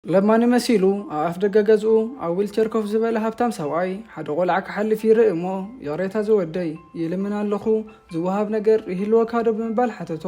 ለማኒ መሲሉ ኣብ ኣፍደገ ገዝኡ ኣብ ዊልቸር ኮፍ ዝበለ ሃብታም ሰብኣይ ሓደ ቆልዓ ክሓልፍ ይርኢ እሞ ይቕሬታ ዝወደይ ይልምን ኣለኹ ዝወሃብ ነገር ይህልወካ ዶ ብምባል ሓተቶ።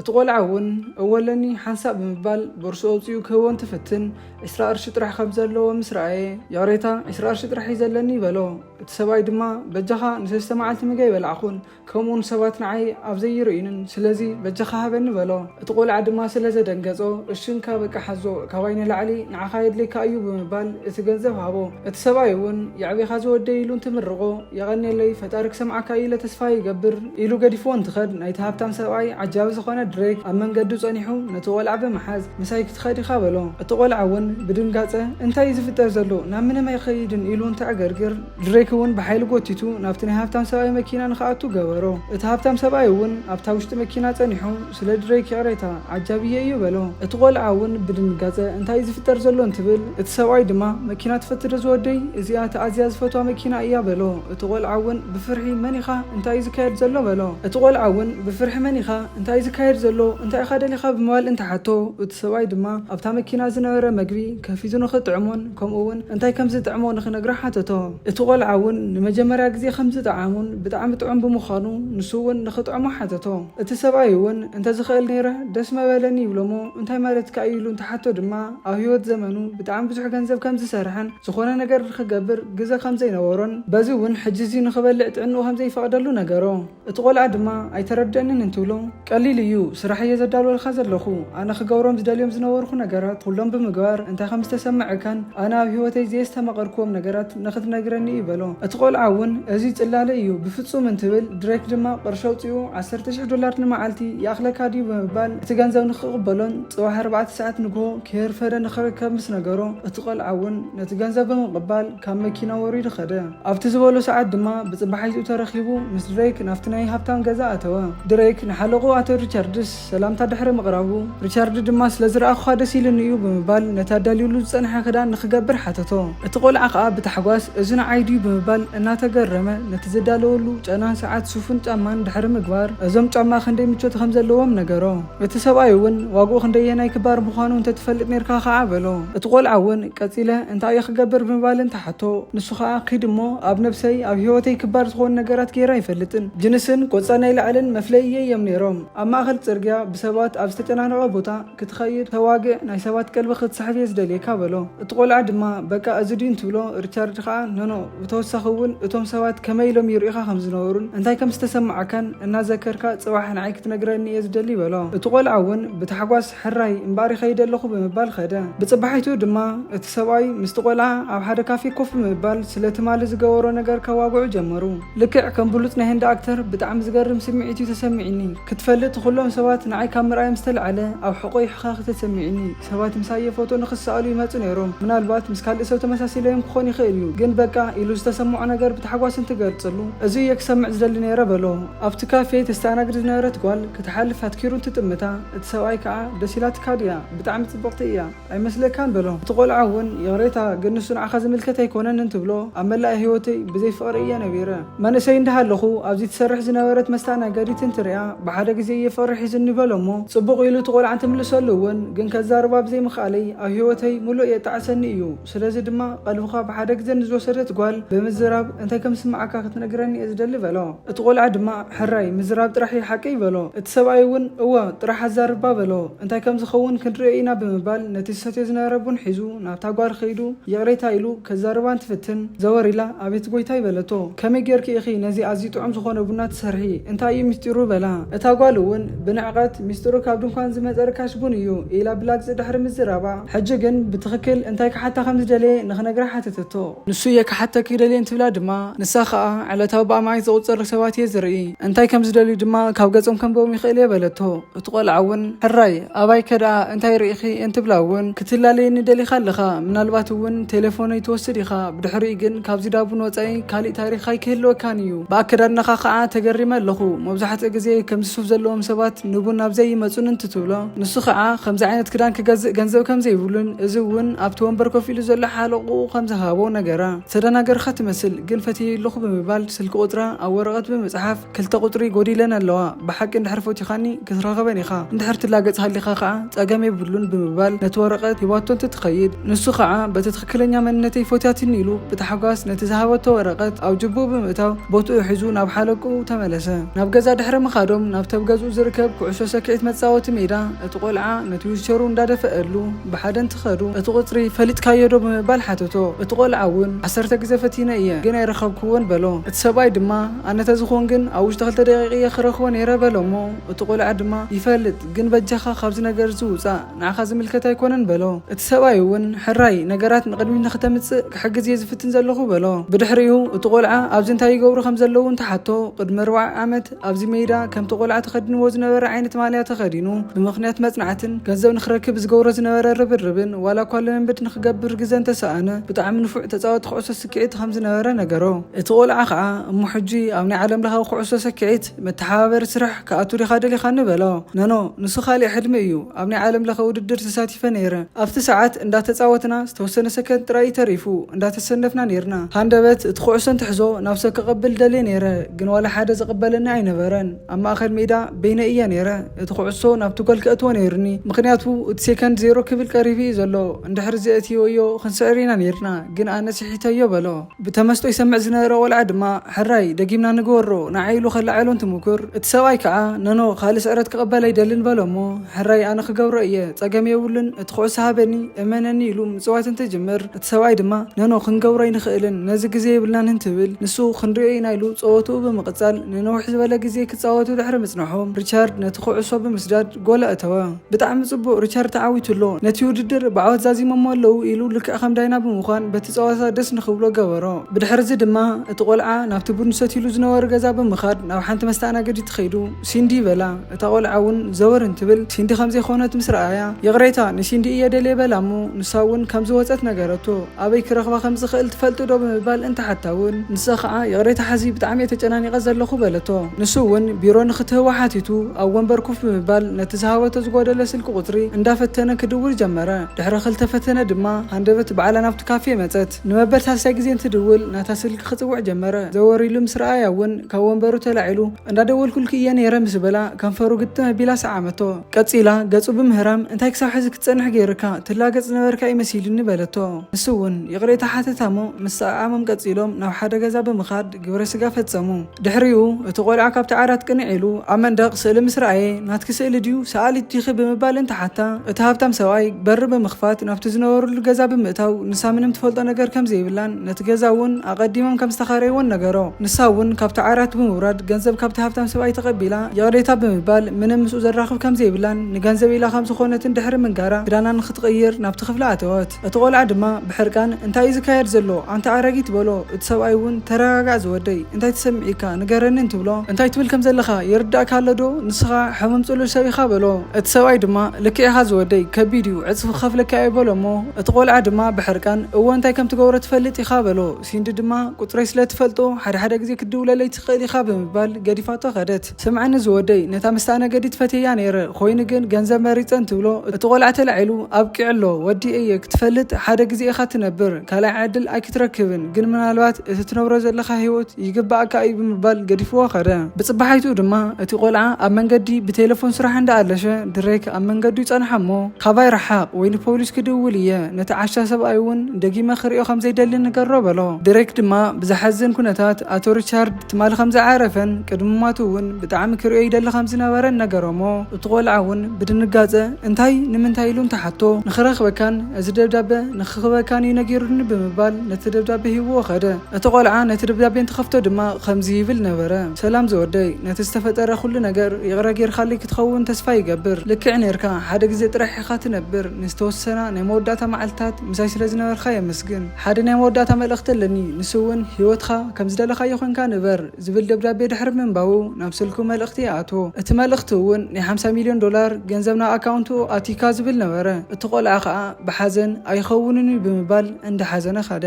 እቲ ቆልዓ እውን እወ ኣለኒ ሓንሳእ ብምባል ቦርስኡ ኣውጺኡ ክህቦ እንትፍትን ዕስራ ቅርሺ ጥራሕ ከም ዘለዎ ምስ ረኣየ ይቕሬታ ዕስራ ቅርሺ ጥራሕ እዩ ዘለኒ በሎ። እቲ ሰብኣይ ድማ በጃኻ ንሰለስተ መዓልቲ ምግበይ በላዕኹን ከምኡውን ሰባት ንዓይ ኣብ ዘይርእዩንን ስለዚ በጃኻ ሃበኒ በሎ። እቲ ቆልዓ ድማ ስለ ዘደንገጾ እሺ እንካ በቃ ሓዞ ካባይ ንላዕሊ ንዓኻ የድልየካ እዩ ብምባል እቲ ገንዘብ ሃቦ። እቲ ሰብኣይ እውን የዕቢኻ ዝወደይ ኢሉ እንትምርቖ የቐንየለይ ፈጣሪ ክሰምዓካ እዩ ኢለ ተስፋ ይገብር ኢሉ ገዲፍዎ እንትኸድ ናይቲ ሃብታም ሰብኣይ ዓጃቢ ዝኾነ ድሬክ ኣብ መንገዱ ጸኒሑ ነቲ ቆልዓ ብምሓዝ ምሳይ ክትኸድ ኢኻ በሎ። እቲ ቆልዓ እውን ብድንጋጸ እንታይ እዩ ዝፍጠር ዘሎ ናብ ምንም ኣይኸይድን ኢሉ እንትዕገርግር፣ ድሬክ እውን ብሓይሊ ጎቲቱ ናብቲ ናይ ሃብታም ሰብኣይ መኪና ንክኣቱ ገበሮ። እቲ ሃብታም ሰብኣይ እውን ኣብታ ውሽጢ መኪና ጸኒሑ ስለ ድሬክ ይቕሬታ ዓጃብየ እዩ በሎ። እቲ ቆልዓ እውን ብድንጋጸ እንታይ እዩ ዝፍጠር ዘሎ እንትብል፣ እቲ ሰብኣይ ድማ መኪና ትፈቲ ዶ ዝወደይ እዚኣ እታ ኣዝያ ዝፈትዋ መኪና እያ በሎ። እቲ ቆልዓ እውን ብፍርሒ መን ኢኻ እንታይ እዩ ዝካየድ ዘሎ በሎ። እቲ ቆልዓ እውን ብፍርሒ መን ኢኻ እንታይ እዩ ዝካየድ ዘሎ እንታይ ኢኻ ደሊኻ ብምባል እንተሓቶ፣ እቲ ሰብኣይ ድማ ኣብታ መኪና ዝነበረ መግቢ ከፊቱ ንክጥዕሞን፣ ከምኡ'ውን እንታይ ከም ዝጥዕሞ ንኽነግራ ሓተቶ። እቲ ቈልዓ እውን ንመጀመርያ ግዜ ከም ዝጠዓሞን ብጣዕሚ ጥዑም ብምዃኑ ንሱ እውን ንኽጥዕሞ ሓተቶ። እቲ ሰብኣይ እውን እንተ ዝኽእል ነይረ ደስ መበለኒ ይብሎ'ሞ እንታይ ማለትካ እዩ ኢሉ እንትሓቶ ድማ ኣብ ህይወት ዘመኑ ብጣዕሚ ብዙሕ ገንዘብ ከም ዝሰርሐን ዝኾነ ነገር ንኽገብር ግዘ ከም ዘይነበሮን በዚ እውን ሕጂ እዚ ንኽበልዕ ጥዕንኡ ከም ዘይፈቕደሉ ነገሮ። እቲ ቆልዓ ድማ ኣይተረደእንን እንትብሎ፣ ቀሊል እዩ ስራሕ እየ ዘዳልወልካ ዘለኹ፣ ኣነ ክገብሮም ዝደልዮም ዝነበርኹ ነገራት ኹሎም ብምግባር እንታይ ከም ዝተሰመዐካን ኣነ ኣብ ህይወተይ ዘየስተማቐርክዎም ነገራት ንኽትነግረኒ እዩ በሎ። እቲ ቆልዓ እውን እዙይ ፅላለ እዩ ብፍፁም እንትብል፣ ድሬክ ድማ ቅርሺ ኣውፂኡ ዓሰርተ ሽሕ ዶላር ንመዓልቲ ይኣኽለካ ድዩ ብምባል እቲ ገንዘብ ንኽቕበሎን ፅባሕ ኣርባዕተ ሰዓት ንግሆ ከየርፈደ ንኽርከብ ምስ ነገሮ እቲ ቆልዓ እውን ነቲ ገንዘብ ብምቕባል ካብ መኪና ወሪዱ ኸደ። ኣብቲ ዝበሎ ሰዓት ድማ ብጽባሒትኡ ተረኺቡ ምስ ድረይክ ናብቲ ናይ ሃብታም ገዛ ኣተወ። ድረይክ ንሓለቕኡ ኣቶ ሪቻርድስ ሰላምታ ድሕሪ ምቕራቡ፣ ሪቻርድ ድማ ስለ ዝረኣኹኻ ደስ ኢሉኒ እዩ ብምባል ነቲ ኣዳልዩሉ ዝጸንሐ ክዳን ንኽገብር ሓተቶ። እቲ ቆልዓ ኸኣ ብታሕጓስ እዚ ንዓይ ድዩ ብምባል እናተገረመ ነቲ ዝዳለወሉ ጨናን ሰዓት ሱፍን ጫማን ድሕሪ ምግባር እዞም ጫማ ክንደይ ምቾት ከም ዘለዎም ነገሮ። እቲ ሰብኣይ እውን ዋግኡ ክንደየናይ ክባር ምዃኑ እንተ ትፈልጥ ኔርካ ኸኣ በሎ። እቲ ቈልዓ እውን ቀጺለ እንታይ እየ ክገብር ብምባል እንተ ሓቶ፣ ንሱ ኸኣ ኪድ እሞ ኣብ ነብሰይ፣ ኣብ ህይወተይ ክባር ዝኾኑ ነገራት ገይረ ኣይፈልጥን። ጅንስን ቆጽሊ ናይ ላዕልን መፍለይየይ እዮም ኔሮም። ኣብ ማእከል ጽርግያ ብሰባት ኣብ ዝተጨናነቐ ቦታ ክትኸይድ ተዋግእ ናይ ሰባት ቀልቢ ክትስሕብ እየ ዝደልየካ በሎ። እቲ ቈልዓ ድማ በቃ እዚ ድዩ እንትብሎ ሪቻርድ ኸኣ ኖኖ! ብተወሳኺ እውን እቶም ሰባት ከመይ ኢሎም ይርእዩኻ ከም ዝነበሩን እንታይ ከም ዝተሰማዓካን እናዘከርካ ጽባሕ ንዓይ ክትነግረኒ እየ ዝደሊ በሎ። እቲ ቆልዓ እውን ብታሕጓስ ሕራይ እምበኣር ይኸይድ ኣለኹ ብምባል ከደ። ብጽባሒቱ ድማ እቲ ሰብኣይ ምስቲ ቆልዓ ኣብ ሓደ ካፌ ኮፍ ብምባል ስለ ትማሊ ዝገበሮ ነገር ከዋግዑ ጀመሩ። ልክዕ ከም ብሉጽ ናይ ህንዲ ኣክተር ብጣዕሚ ዝገርም ስምዒት እዩ ተሰሚዒኒ። ክትፈልጥ ኩሎም ሰባት ንዓይ ካብ ምርኣዮም ዝተለዓለ ኣብ ሕቖይ ሕኸኽ እዩ ተሰሚዒኒ። ሰባት ምሳየ ፎቶ ንክሰኣሉ ይመጹ ነይሮም ምናልባት ምስ ካልእ ሰብ ተመሳሲለዮም ክኾን ይኽእል እዩ ግን በቃ ኢሉ ዝተሰመዖ ነገር ብታሕጓስ እንትገልጽሉ እዚ እየ ክሰምዕ ዝደሊ ነይረ በሎ። ኣብቲ ካፌ ተስተኣናግድ ዝነበረት ጓል ክትሓልፍ ኣትኪሩ እንትጥምታ እቲ ሰብኣይ ከኣ ደስ ኢላትካ ድያ ብጣዕሚ ጽብቕቲ እያ ኣይመስለካን በሎ እቲ ቆልዓ እውን ይቕሬታ ግን ንሱ ንዓኻ ዝምልከት ኣይኮነን እንትብሎ ኣብ መላእ ህይወተይ ብዘይ ፍቕሪ እየ ነቢረ መንእሰይ እንዳሃለኹ ኣብዚ ትሰርሕ ዝነበረት መስተኣናገዲት እንትሪኣ ብሓደ ግዜ እየ ፍቕሪ ሒዙኒ በሎ'ሞ ጽቡቕ ኢሉ እቲ ቆልዓ እንትምልሰሉ እውን ግን ከዛርባ ብዘይምኽኣለይ ኣብ ህይወተይ ምሉእ የጣዕሰኒ እዩ ስለዚ ድማ ቀልብኻ ብሓደ ግዘ ንዝወሰደት ጓል ብምዝራብ እንታይ ከምዝስምዓካ ክትነግረኒ እየ ዝደሊ በሎ። እቲ ቆልዓ ድማ ሕራይ ምዝራብ ጥራሕ እዩ ሓቀይ በሎ። እቲ ሰብኣይ እውን እወ ጥራሕ ኣዛርባ በሎ እንታይ ከምዝኸውን ክንሪኦ ኢና ብምባል ነቲ ዝሰትዮ ዝነበረ ቡን ሒዙ ናብታ ጓል ከይዱ ይቕሬታ ኢሉ ከዛርባ እንትፍትን፣ ዘወር ኢላ፣ ኣቤት ጎይታይ በለቶ። ከመይ ጌርኪ ኢኺ ነዚ ኣዝዩ ጥዑም ዝኾነ ቡና ትሰርሒ? እንታይ እዩ ምስጢሩ? በላ። እታ ጓል እውን ብንዕቐት፣ ምስጢሩ ካብ ድንኳን ዝመጸ ርካሽ ቡን እዩ፣ ኢላ ብላግጺ ድሕሪ ምዝራባ፣ ሕጂ ግን ብትኽክል እንታይ ክሓታ ከም ዝደለየ ንኽነግራ ሓተተቶ። ንሱ እየ ክሓተኪ ይደልየ እንትብላ ድማ፣ ንሳ ኸኣ ዕለታዊ ብኣማኢት ዝቑጸሩ ሰባት እየ ዝርኢ፣ እንታይ ከም ዝደልዩ ድማ ካብ ገጾም ከንብቦም ይኽእል እየ በለቶ። እቲ ቆልዓ እውን ሕራይ ኣባይ ከደኣ እንታይ ርኢኺ እንትብላ እውን ክትላለየኒ ደሊኻ ኣለኻ ምናልባት እውን ቴሌፎነይ ትወስድ ኢኻ ብድሕሪኡ ግን ካብዚ ዳቡን ወፃኢ ካሊእ ታሪክ ኣይክህልወካን እዩ ብኣከዳድናኻ ከዓ ተገሪመ ኣለኹ መብዛሕትኡ ግዜ ከምዚ ሱፍ ዘለዎም ሰባት ንቡን ናብዚ ኣይመፁን እንትትብሎ ንሱ ከዓ ከምዚ ዓይነት ክዳን ክገዝእ ገንዘብ ከምዘይብሉን እዚ እውን ኣብቲ ወንበር ኮፍ ኢሉ ዘሎ ሓለቑኡ ከምዝሃቦ ነገራ ዝተደናገርኻ ትመስል ግን ፈትየዩ ኣለኹ ብምባል ስልኪ ቁፅራ ኣብ ወረቐት ብምፅሓፍ ክልተ ቁጽሪ ጎዲለን ኣለዋ ብሓቂ እንድሕር ፈቲኻኒ ክትረኸበን ኢኻ እንድሕር ትላገጽ ሃሊኻ ከኣ ጸገም የብሉን ብምባል ነቲ ወረቐት ሂባቶ እንትትኸይድ ንሱ ከኣ በቲ ትኽክለኛ መንነተይ ፈትያትኒ ኢሉ ብታሕጓስ ነቲ ዝሃበቶ ወረቐት ኣብ ጅቡኡ ብምእታው ቦትኡ ሒዙ ናብ ሓለቅኡ ተመለሰ ናብ ገዛ ድሕሪ ምኻዶም ናብቲ ኣብ ገዝኡ ዝርከብ ኩዕሶ ሰኪዒት መጻወቲ ሜዳ እቲ ቆልዓ ነቲ ዊልቸሩ እንዳደፈኣሉ ብሓደ እንትኸዱ እቲ ቁጽሪ ፈሊጥካዮ ዶ ብምባል ሓተቶ እቲ ቆልዓ እውን ዓሰርተ ግዘ ፈቲነ እየ ግን ኣይረኸብክዎን በሎ እቲ ሰብኣይ ድማ ኣነ ተዝኾን ግን ኣብ ውሽጢ ክልተ ደቂቅ እየ ክረኽቦ ነይረ በሎ እሞ እቲ ቆልዓ ድማ ይፈልጥ ግን በጃኻ ካብዚ ነገር እዚ ውጻእ ንዓኻ ዝምልከት ኣይኮነን በሎ እቲ ሰብኣይ እውን ሕራይ ነገራት ንቅድሚት ንክተምጽእ ክሕግዝ እየ ዝፍትን ዘለኹ በሎ ብድሕሪኡ እቲ ቆልዓ ኣብዚ እንታይ ይገብሩ ከም ዘለዉ እንትሓቶ ቅድሚ ኣርባዓ ዓመት ኣብዚ መይዳ ከምቲ ቆልዓ ተኸዲንዎ ዝነበረ ዓይነት ማልያ ተኸዲኑ ብምኽንያት መጽናዕትን ገንዘብ ንክረክብ ዝገብሮ ዝነበረ ርብርብን ዋላ እኳ ልምምድ ንክገብር ግዘ እንተሰኣነ ብጣዕሚ ንፉዕ ተጻወቲ ኩዕሶ ስክዒት ከም ዝነበረ ነገሮ። እቲ ቆልዓ ከኣ እሞ ሕጂ ኣብ ናይ ዓለም ለኻዊ ኩዕሶ ሰክዒት መተሓባበሪ ስራሕ ክኣቱ ዲኻ ደሊኻኒ በሎ። ኖኖ ንሱ ካልእ ሕልሚ እዩ። ኣብ ናይ ዓለም ለኸ ውድድር ተሳቲፈ ነይረ። ኣብቲ ሰዓት እንዳተጻወትና ዝተወሰነ ሰከንድ ጥራይ እዩ ተሪፉ እንዳተሰነፍና ኔርና። ሃንደበት እቲ ኩዕሶ እንትሕዞ ናብ ሰብ ከቐብል ደልየ ነይረ ግን ዋላ ሓደ ዝቕበለኒ ኣይነበረን። ኣብ ማእከል ሜዳ በይነይ እየ ነይረ፣ እቲ ኩዕሶ ናብቲ ጎል ከእትዎ ነይሩኒ፣ ምኽንያቱ እቲ ሴከንድ ዜሮ ክብል ቀሪቡ እዩ ዘሎ፣ እንድሕሪ ዘእትይወዮ ክንስዕር ኢና ነይርና፣ ግን ኣነ ስሒተዮ በሎ። ብተመስጦ ይሰምዕ ዝነበረ ቆልዓ ድማ ሕራይ ደጊምና ንግበሮ ንዓይ ኢሉ ከለዓዕሎ እንትሙኩር፣ እቲ ሰብኣይ ከኣ ኖኖ ካልእ ስዕረት ክቕበል ኣይደልን በሎ እሞ ሕራይ ኣነ ክገብሮ እየ ጸገም የብሉን እቲ ኩዕሶ ሃበኒ እመነኒ ኢሉ ምጽዋት እንትጅምር፣ ሰብኣይ ድማ ኖኖ ክንገብሮ ኣይንኽእልን ነዚ ግዜ የብልናን እንትብል ንሱ ክንሪኦ ኢና ኢሉ ጸወትኡ ብምቕጻል ንንውሕ ዝበለ ግዜ ክጻወቱ ድሕሪ ምጽንሖም ሪቻርድ ነቲ ኩዕሶ ብምስዳድ ጎል ኣእተወ። ብጣዕሚ ጽቡቕ ሪቻርድ ተዓዊቱ ኣሎ ነቲ ውድድር ብዓወት ዛዚሞሞ ኣለዉ ኢሉ ልክዕ ከም ዳይና ብምዃን በቲ ጸወታ ደስ ንኽብሎ ገበሮ። ብድሕርዚ ድማ እቲ ቆልዓ ናብቲ ቡን ዝሰትይሉ ዝነበሩ ገዛ ብምኻድ ናብ ሓንቲ መስተኣናገዲት ከይዱ ሲንዲ በላ። እታ ቆልዓ እውን ዘወር እንትብል ሲንዲ ከምዘይኮነት ምስ ረኣያ ይቕሬታ ንሲንዲ እየ ደልየ በላ እሞ ንሳ እውን ከምዝወፀት ነገረቶ ኣበይ ክረኽባ ከምዝኽእል ትፈልጢ ዶ ብምባል እንትሓታ እውን ንሳ ከዓ ይቕሬታ ሐዚ ብጣዕሚ እየ ተጨናኒቐ ዘለኹ በለቶ ንሱ እውን ቢሮ ንኽትህባ ሓቲቱ ኣብ ወንበር ኮፍ ብምባል ነቲ ዝሃበቶ ዝጎደለ ስልኪ ቁፅሪ እንዳፈተነ ክድውል ጀመረ ድሕሪ ክልተ ፈተነ ድማ ሃንደበት ባዕላ ናብቲ ካፌ መፀት። ንመበል ሳልሳይ ግዜ እንትድውል ናታ ስልኪ ክጽውዕ ጀመረ። ዘወር ኢሉ ምስ ረኣያ'ውን ካብ ወንበሩ ተላዒሉ፣ እንዳደወልኩልኪ እየ ነይረ ምስ በላ ከንፈሩ ግጥም ኣቢላ ሰዓመቶ። ቀጺላ ገጹ ብምህራም እንታይ ክሳብ ሕዚ ክትጸንሕ ገይሩካ ትላገጽ ዝነበርካ እዩ መሲሉኒ በለቶ። ንሱ'ውን ይቕሬታ ሓተታ'ሞ ምስ ሰዓዓሞም ቀጺሎም ናብ ሓደ ገዛ ብምኻድ፣ ግብረ ስጋ ፈጸሙ። ድሕሪኡ፣ እቲ ቆልዓ ካብቲ ዓራት ቅንዕ ኢሉ ኣብ መንደቕ ስእሊ ምስ ረኣየ፣ ናትኪ ስእሊ ድዩ? ሰኣሊት ዲኺ? ብምባል እንትሓታ፣ እቲ ሃብታም ሰብኣይ በሪ ብምኽፋት ናብቲ ዝነበርሉ ገዛ ብምእታው ንሳ ምንም ትፈልጦ ነገር ከም ዘይብላን ነቲ ገዛ እውን ኣቐዲሞም ከም ዝተኻረይዎን ነገሮ። ንሳ እውን ካብቲ ዓራት ብምውራድ ገንዘብ ካብቲ ሃብታም ሰብኣይ ተቐቢላ ይቕሬታ ብምባል ምንም ምስኡ ዘራኽብ ከም ዘይብላን ንገንዘብ ኢላ ከም ዝኾነትን ድሕሪ ምንጋራ ክዳና ንኽትቕይር ናብቲ ክፍላ ኣተወት። እቲ ቆልዓ ድማ ብሕርቃን እንታይ እዩ ዝካየድ ዘሎ ኣንታ ኣረጊት በሎ እቲ ሰብኣይ እውን ተረጋጋእ ዝወደይ እንታይ ተሰሚዒካ ንገረኒ እንትብሎ እንታይ ትብል ከም ዘለኻ ይርዳእካ ኣሎ ዶ ንስኻ ሕሙም ጽሉል ሰብ ኢኻ በሎ እቲ ሰብኣይ ድማ ልክዕ ኢኻ ዝወደይ ከቢድ እዩ ዕጽፊ ክኸፍለካ እየ በሎ እሞ እቲ ቆልዓ ድማ ብሕርቃን እወ እንታይ ከም ትገብሮ ትፈልጥ ኢኻ በሎ ሲንዲ ድማ ቁጽረይ ስለ ትፈልጦ ሓደ ሓደ ግዜ ክትድውለለይ ትኽእል ኢኻ ብምባል ገዲፋቶ ከደት። ስምዐኒ ዝወደይ ነታ መስተኣነገዲት ፈትየያ ነይረ ኮይኑ ግን ገንዘብ መሪፀ እንትብሎ እቲ ቆልዓ ተላዒሉ ኣብቂዑ ኣሎ ወዲ እየ ክትፈልጥ ሓደ ግዜ ኢኻ ትነብር ካልኣይ ዕድል ኣይክትረክብን ግን ምናልባት እቲ ትነብሮ ዘለኻ ሂወት ይግበኣካ እዩ ብምባል ገዲፍዎ ከደ ብፅባሓይትኡ ድማ እቲ ቆልዓ ኣብ መንገዲ ብቴለፎን ስራሕ እንዳኣለሸ ድሬክ ኣብ መንገዱ ይፀንሓ እሞ ካባይ ረሓቅ ወይ ንፖሊስ ክድውል እየ ነቲ ዓሻ ሰብኣይ እውን ደጊመ ክሪኦ ከምዘይደሊ ንገሮ በሎ ድሬክ ድማ ብዘሓዝን ኩነታት ኣቶ ሪቻርድ ትማሊ ከም ዝዓረፈን ቅድሚ ሟቱ እውን ብጣዕሚ ክርእዮ ይደሊ ከም ዝነበረን ነገሮሞ። እቲ ቆልዓ እውን ብድንጋጸ እንታይ? ንምንታይ? ኢሉ እንተሓቶ ንኽረኽበካን እዚ ደብዳበ ንኽክበካን እዩ ነጊሩኒ ብምባል ነቲ ደብዳበ ሂቡዎ ከደ። እቲ ቆልዓ ነቲ ደብዳቤ እንትኸፍቶ ድማ ኸምዚ ይብል ነበረ፣ ሰላም ዝወደይ፣ ነቲ ዝተፈጠረ ኹሉ ነገር ይቕረ ጌርካለይ ክትኸውን ተስፋ ይገብር። ልክዕ ኔርካ፣ ሓደ ግዜ ጥራሕ ኢኻ ትነብር፣ ንዝተወሰና ናይ መወዳእታ መዓልትታት ምሳይ ስለ ዝነበርካ የመስግን። ሓደ ናይ መወዳእታ መልእኽቲ ኣለኒ፣ ንሱ እውን ህይወትካ ከም ዝደለኻዮ ኰንካ ንበር ዝብል ደብዳቤ ድሕሪ ምንባቡ ናብ ስልኩ መልእኽቲ ይኣትዎ። እቲ መልእኽቲ እውን ናይ ሓምሳ ሚልዮን ዶላር ገንዘብ ናብ ኣካውንቱ ኣእቲካ ዝብል ነበረ። እቲ ቈልዓ ከኣ ብሓዘን ኣይኸውንን እዩ ብምባል እንዳ ሓዘነ ከደ።